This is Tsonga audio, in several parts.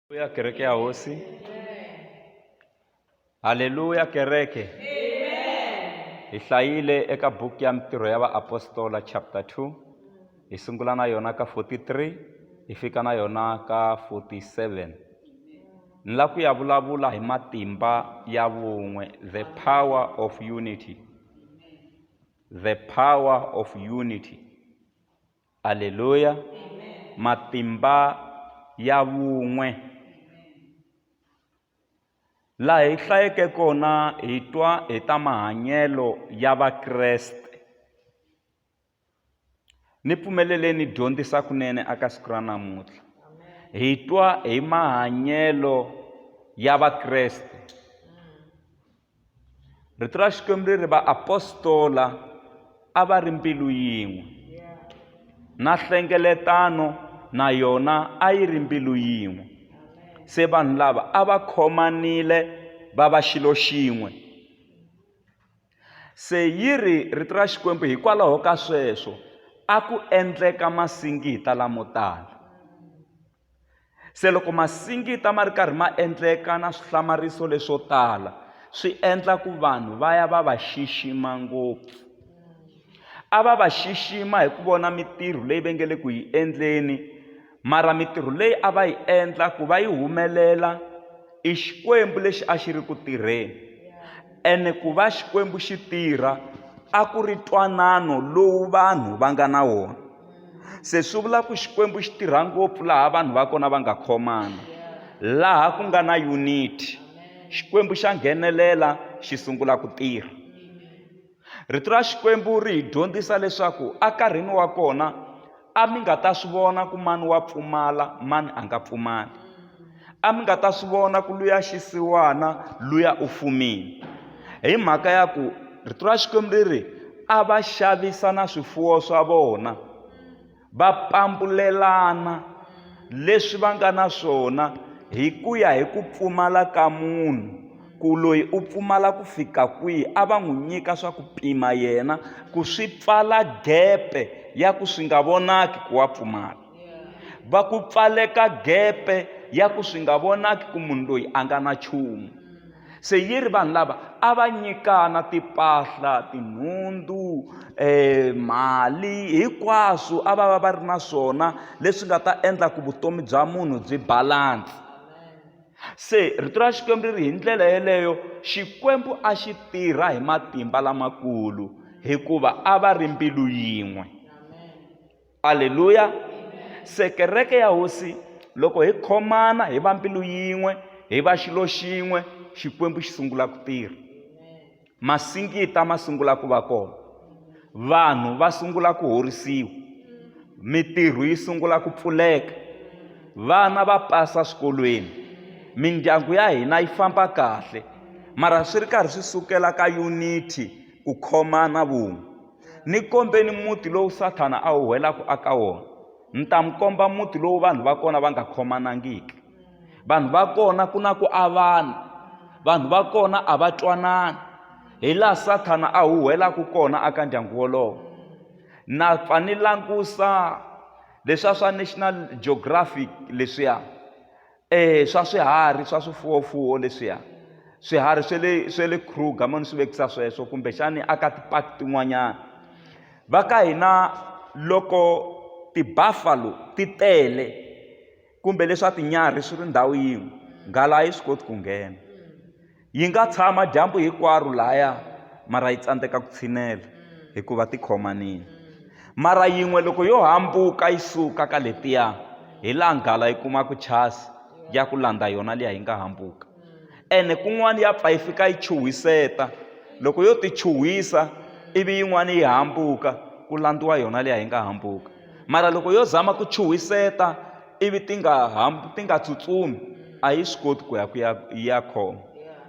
Haleluya, kereke ya hosi. Haleluya, kereke. Hi hlayile eka buku ya mitirho ya vaapostola chapter 2 hi sungula na yona ka 43 hi fika na yona ka 47 ni la ku ya vulavula hi matimba ya vun'we the power of unity the power of unity Aleluya. Matimba ya vun'we. Laha hi hlayeke kona hi twa hi ta mahanyelo ya Vakreste. Ni pfumelele ni dyondzisa kunene aka siku ra namuntlha. Hi twa hi mahanyelo ya Vakreste. rito ra xikwembu ri ri vaapostola a va ri mbilu yin'we na hlengeletano na yona a yi ri mbilu yin'we se vanhu lava a va khomanile va va xilo xin'we se yi ri rito ra xikwembu hikwalaho ka sweswo a ku endleka masingita lamo tala Se loko masingita ma ri karhi ma endleka na swihlamariso leswo tala swi endla ku vanhu va ya va va xixima ngopfu a va va xixima hi ku vona mitirho leyi va nge le ku yi endleni mara mitirho leyi a va yi endla ku va yi humelela i xikwembu lexi a xi ri ku tirheni ene ku va xikwembu xi tirha a ku ri twanano lowu vanhu va nga na wona se swi vula ku xikwembu xi tirha ngopfu laha vanhu va kona va nga khomana laha ku nga na unity xikwembu xa nghenelela xi sungula ku tirha rito ra xikwembu ri hi dyondzisa leswaku ekarhini wa kona a mi nga ta swi vona ku mani wa pfumala mani a nga pfumali a mi nga ta swi vona ku luya xisiwana luya u fumile hi mhaka ya ku rito ra xikwembu ri ri a va xavisa na swifuwo swa vona va pampulelana leswi va nga na swona hi ku ya hi ku pfumala ka munhu ku loyi u pfumala ku fika kwihi a va n'wi nyika swa ku pima yena ku swi pfala gepe ya ku swi nga vonaki ku wa pfumala va ku pfaleka gepe ya ku swi nga vonaki ku munhu loyi a nga na nchumu se yi ri vanhu lava a va nyikana timpahla tinhundzu um mali hinkwaswo a va va va ri na swona leswi nga ta endla ku vutomi bya munhu byi balansi se rito ra xikwembu ri ri hi ndlela yeleyo xikwembu a xi tirha hi matimba lamakulu hikuva a va ri mbilu yin'we aleluya se kereke ya hosi loko hi khomana hi va mbilu yin'we hi va xilo xin'we xikwembu xi sungula ku tirha masingita ma sungula ku va kona vanhu va sungula ku horisiwa mitirho yi sungula ku pfuleka vana va pasa swikolweni mindyangu ya hina yi famba kahle mara swi ri karhi swi sukela ka unity ku khomana vun'we ni kombeni muti lowu sathana a wu whelaka aka wona ni ta mi komba muti lowu vanhu va kona va nga khomanangiki vanhu va kona ku na ku avana vanhu va kona a va twanani hi laha sathana a wu whelaka kona aka ndyangu wolowo na pfa ni langusa leswiya swa national geographic leswiya e swa swiharhi swa swifuwofuwo leswiya swiharhi swe le swe le kruger mo ni swi vekisa sweswo kumbexani a ka ti-park tin'wanyana va ka hina loko ti-buffalo ti tele kumbe leswa tinyarhi swi ri ndhawu yin'we nghala a yi swi koti ku nghena Yi nga tshama dyambu hinkwaro lahaya mara yi tsandzeka ku tshinela hikuva ti khomanile. Mara yin'we loko yo hambuka yi suka ka letiya, hi laha nghala yi kumaka chasi ya ku landza yona liya yi nga hambuka. Ene kun'wana ya pfa yi fika yi chuhiseta, loko yo ti chuhisa ivi yin'wana yi hambuka, ku landziwa yona liya yi nga hambuka. mara loko yo zama ku chuhiseta ivi ti nga hambi ti nga tsutsumi a yi swi koti ku ya ku ya yi ya khoma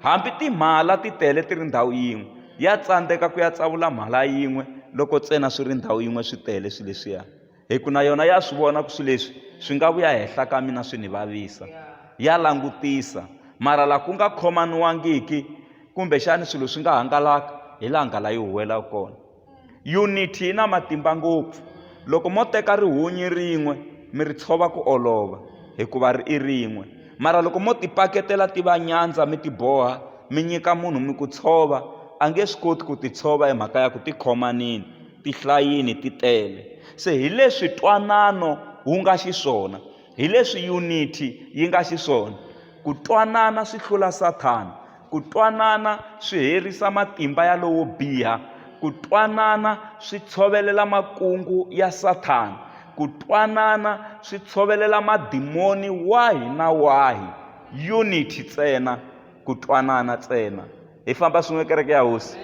hambi timhala ti tele ti ri ndhawu yin'we ya tsandzeka ku ya tsavula mhala yin'we loko ntsena swi ri ndhawu yin'we swi tele swilo leswiya hi ku na yona ya swi vona ku swilo leswi swi nga vuya henhla ka mina swi ni vavisa ya langutisa mara laha ku nga khomaniwangiki kumbexani swilo swi nga hangalaka hi laha nghala yi huwelaka kona Yuniti yi na matimba ngopfu. Loko mo teka rihunyi rin'we mi ri tshova ku olova hikuva ri i rin'we. Mara loko mo ti paketela ti va nyandza mi ti boha mi nyika munhu mi ku tshova, a nge swi koti ku ti tshova hi mhaka ya ku ti khomanile, ti hlayile, ti tele. Se hi leswi twanano wu nga xiswona. Hi leswi yuniti yi nga xiswona, ku twanana swi hlula Sathana. Ku twanana swi herisa matimba ya lowo biha. Ku twanana swi tshovelela makungu ya Sathana. Ku twanana swi tshovelela madimoni wahi na wahi. Yuniti tsena, ku twanana tsena. Hi famba swin'we Kereke ya Hosi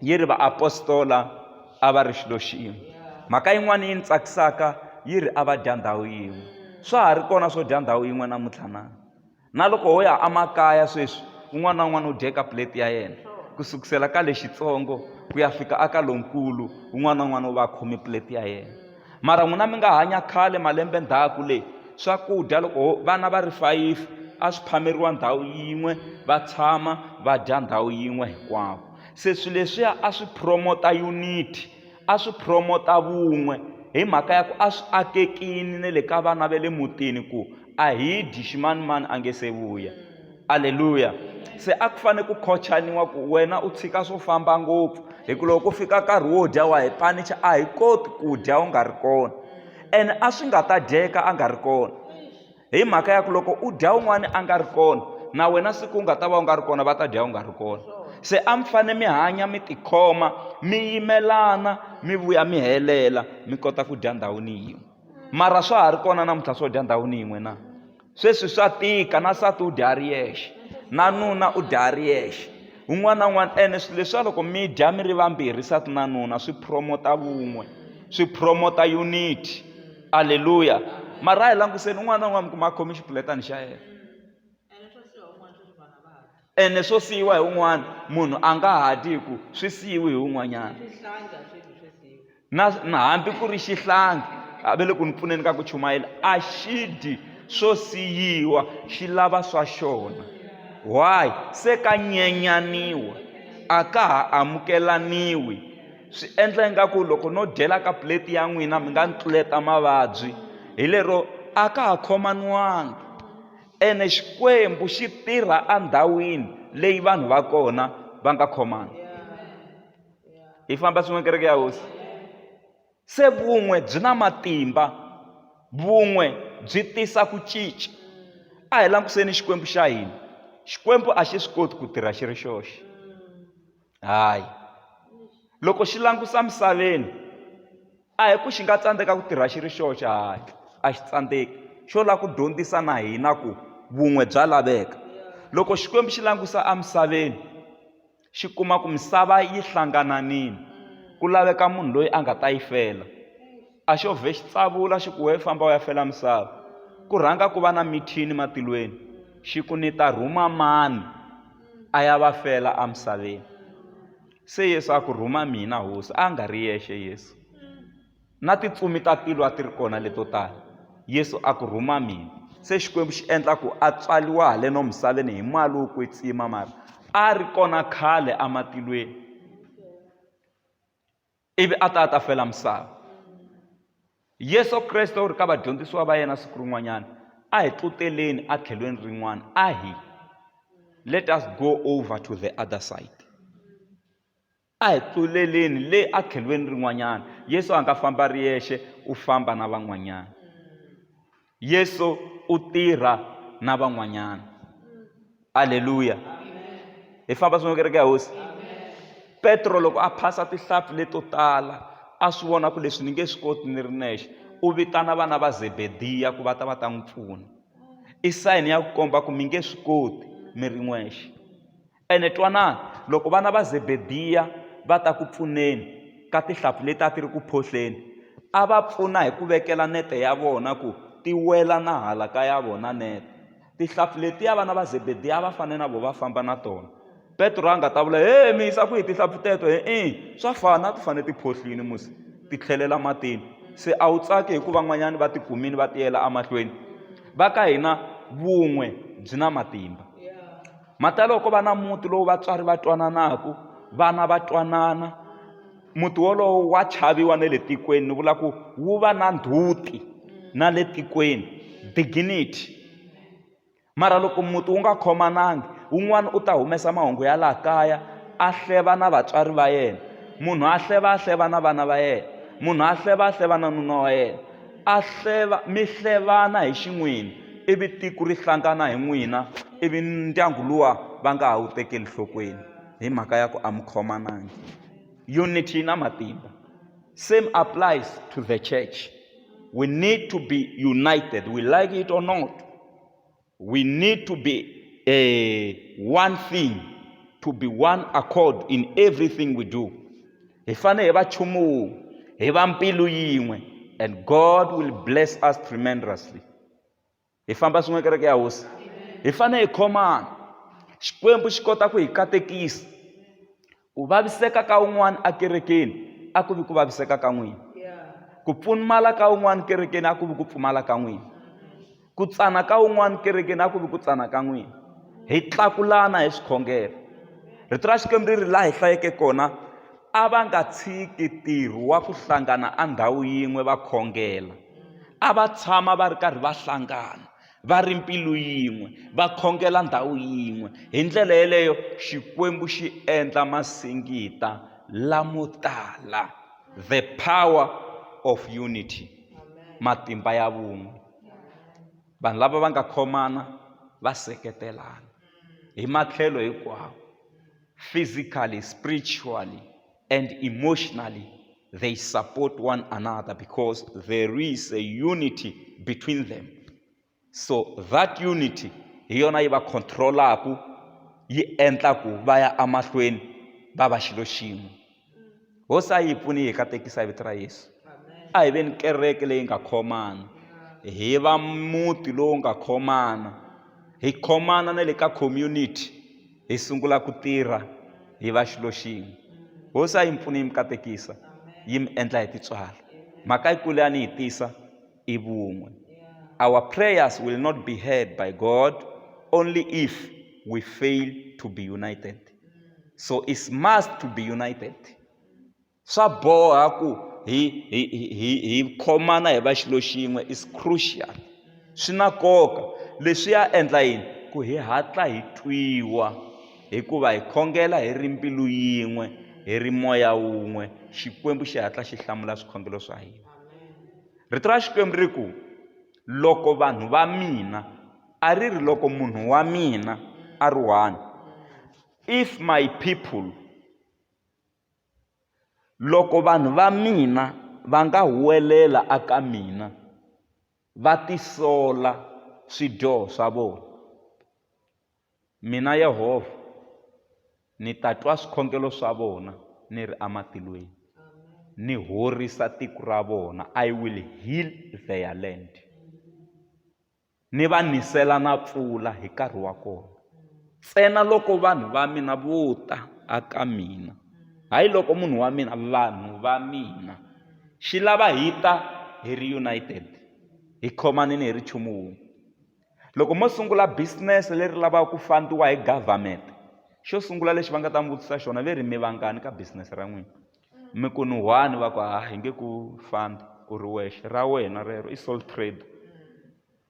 yi ri vaapostola. a va ri xilo xin'we mhaka yin'wana yi ni tsakisaka yi ri a va dya ndhawu yin'we swa ha ri kona swo dya ndhawu yin'we namuntlha na na loko ho ya emakaya sweswi un'wana na un'wana u dye ka plate ya yena ku sukusela ka lexitsongo ku ya fika aka lonkulu un'wana na un'wana u va a khome plate ya yena mara n'wina mi nga hanya khale malembe ndhaku leyi swakudya loko vana va ri fayifi a swi phameriwa ndhawu yin'we va tshama va dya ndhawu yin'we hinkwavo se swilo leswiya a swi promote-a unity a swi promote-a vun'we hi mhaka ya ku a swi akekini na le ka vana va le mutini ku a hi dyi ximanimani a nge se vuya aleluya se a ku fanele ku khochaniwa ku wena u tshika swo famba ngopfu hi ku loko ku fika nkarhi wo dya wa hi panicha a hi koti ku dya u nga ri kona ene a swi nga ta dyeka a nga ri kona hi mhaka ya ku loko u dya un'wana a nga ri kona na wena siku u nga ta va u nga ri kona va ta dya u nga ri kona se a mi fanele mi hanya mi tikhoma mi yimelana mi vuya mi helela mi kota ku dya ndhawini yin'we mara swa ha ri kona namuntlha swo dya ndhawini yin'we na sweswi swa tika na sati u dya a ri yexe na nuna u dya a ri yexe un'wana na un'wana ene swilo leswiwa loko mi dya mi ri vambirhi sati na nuna swi promota vun'we swi promota unity aleluya mara hi languseni un'wana na un'wana mi kuma a khome xipuletani xa yena ene swo siyiwa hi un'wana munhu a nga ha dyi hi ku swi siyiwi hi un'wanyana na na hambi ku ri xihlangi a ve le ku ni pfuneni ka ku chumayela a xi dyi swo siyiwa xi lava swa xona why se ka nyenyaniwa a ka ha amukelaniwi swi endla ingaku loko no dyela ka plate ya n'wina mi nga ni tluleta mavabyi hi lero a ka ha khomaniwanga ene xikwembu xi tirha endhawini leyi vanhu va kona va nga khomana hi famba swin'we kereke ya hosi se vun'we byi na matimba vun'we byi tisa ku cinca a hi langutiseni xikwembu xa hina xikwembu a xi swi koti ku tirha xi ri xoxe Hayi. Loko xi langutisa emisaveni, a hi ku xi nga tsandzeka ku tirha xi ri xoxe, hayi a xi tsandzeki. Xo lava ku dyondzisa na hina ku vun'we bya laveka. Loko Xikwembu xi langutisa emisaveni, xi kuma ku misava yi hlangananile, ku laveka munhu loyi a nga ta yi fela. a xo vhe xi tsavula xi ku we famba u ya fela misava ku rhanga ku va na mithini matilweni xi ku ni ta rhuma mani a ya va fela emisaveni se yesu a ku rhuma mina hosi a nga ri yexe yesu na titsumi ta tilo a ti ri kona leto tala yesu a ku rhuma mina se xikwembu xi endla ku a tswaliwa haleno misaveni hi mali wo kwetsima mara a ri kona khale ematilweni ivi a ta a ta fela misava yesu kreste u ri ka vadyondzisiwa va yena siku rin'wanyana a hi tluteleni etlhelweni rin'wana a hi let us go over to the other side a hi tluleleni le etlhelweni rin'wanyana yesu a nga famba ri yexe u famba na van'wanyana Yesu u tirha na van'wanyana. Aleluya. Hi famba swin'we kereke ya hosi. Petro loko a phasa tihlampfi leto tala a swi vona ku leswi ni nge swi koti ni ri nexe u vitana vana va zebediya ku va ta va ta n'wi pfuna i sayini ya ku komba ku mi nge swi koti mi ri n'wexe Ene twanani, loko vana va Zebediya va ta ku pfuneni ka tihlampfi leti a ti ri ku phohleni, a va pfuna hi ku vekela nete ya vona ku ti wela na hala ka ya vona nete. Tihlampfi letiya vana va Zebediya a va fanele na vona va famba na tona. Petro a nga ta vula, He, mi yisa kwihi tihlampfi teto? Hi-i, swa fana, a ti fanele ti phohlile musi ti tlhelela matini. Se a wu tsaki hi ku van'wanyana va tikumile va tiyela emahlweni? Va ka hina vun'we byi na matimba. mhaka loko va na muti lowu vatswari va twananaku vana va twanana muti wolowo wa chaviwa na le tikweni ni vula ku wu va na ndzhuti na le tikweni dignity mara loko muti wu nga khomanangi un'wana u ta humesa mahungu ya laha kaya a hleva na vatswari va yena munhu a hleva a hleva na vana va yena munhu a hleva a hleva na nuna wa yena a hleva mi hlevana hi xin'wini ivi tiko ri hlangana hi n'wina ivi ndyangu luwa va nga ha wu tekeli nhlokweni hi mhaka ya ku a mi khomanangi unity yi na matimba same applies to the church we need to be united we like it or not we need to be a one thing to be one accord in everything we do hi fanele hi va chumu wun'we hi va mbilu yin'we and god will bless us tremendously hi famba swin'we kereke ya hosi hi fanele hi khomana xikwembu xi kota ku hi katekisa ku vaviseka ka un'wana ekerekeni a ku vi ku vaviseka ka n'wina ku pfumala ka un'wana kerekeni a ku vi ku pfumala ka n'wina ku tsana ka un'wana kerekeni a ku vi ku tsana ka n'wina hi tlakulana hi swikhongelo rito ra xikwembu ri ri laha hi hlayeke kona a va nga tshiki ntirho wa ku hlangana a ndhawu yin'we va khongela a va tshama va ri karhi va hlangana va ri mpilu yin'we va khongela ndhawu yin'we hi ndlela yeleyo xikwembu xi endla masingita lamo tala the power of unity matimba ya vun'we vanhu lava va nga khomana va seketelana hi matlhelo hinkwawo physically spiritually and emotionally they support one another because there is a unity between them so that unity hi yona yi va controlaku yi endla ku va ya emahlweni va va xilo xin'we hosi a yi pfuni hi katekisa vito ra yesu a hi veni kereke leyi nga khomana hi va muti lowu nga khomana hi khomana na le ka community hi sungula ku tirha hi va xilo xin'we hosi a yi mi pfuni yi mi katekisa yi mi endla hi titswala mhaka yikulu ya ni yi tisa i vun'we our prayers will not be heard by god only if we fail to be united so it's must to be united swa boha ku hi hi hi hi khomana hi va xilo xin'we is crucial swi na nkoka leswi ya endla yini ku hi hatla hi twiwa hikuva hi khongela hi ri mbilu yin'we hi ri moya wun'we xikwembu xi hatla xi hlamula swikhongelo swa hina rito ra xikwembu ri ku loko vanhu va mina a ri ri loko munhu wa mina a ri one if my people Loko vanhu va mina va nga huwelela eka mina va tisola swidyoho swa vona, mina Yehovha ni ta twa swikhongelo swa vona ni ri ematilweni, ni horisa tiko ra vona, I will heal their land. Ni va nisela na pfula hi nkarhi wa kona, ntsena loko vanhu va mina vo ta aka mina, hayi loko munhu wa mina, vanhu va mina. Xi lava hi ta hi ri united, hi khomanile hi ri nchumu wun'we. Loko mo sungula business leri lavaka ku fund-iwa hi government, xo sungula lexi va nga ta mi vutisa xona ve ri mi vangani ka business ra n'wina? mi ku ni one va ku ha hi nge ku fambi u ri wexe ra wena rero i soul trade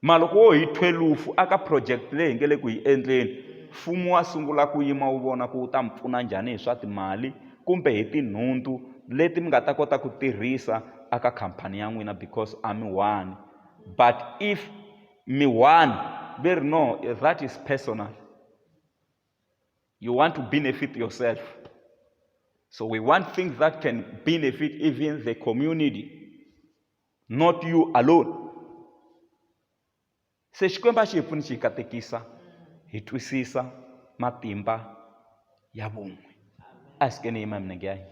mara loko wo hi thwelufu aka project leyi hi nge le ku yi endleni mfumo wa sungula ku yima wu vona ku wu ta mi pfuna njhani hi swa timali kumbe hi tinhundzu leti mi nga ta kota ku tirhisa aka khampani ya n'wina because a mi one but if mi one ve ri no that is personal You want to benefit yourself. So we want things that can benefit even the community, not you alone. se xikwembu a xi hi pfuni xi hi katekisa hi twisisa matimba ya vun'we a hi sikeni yima hi minenge ya hina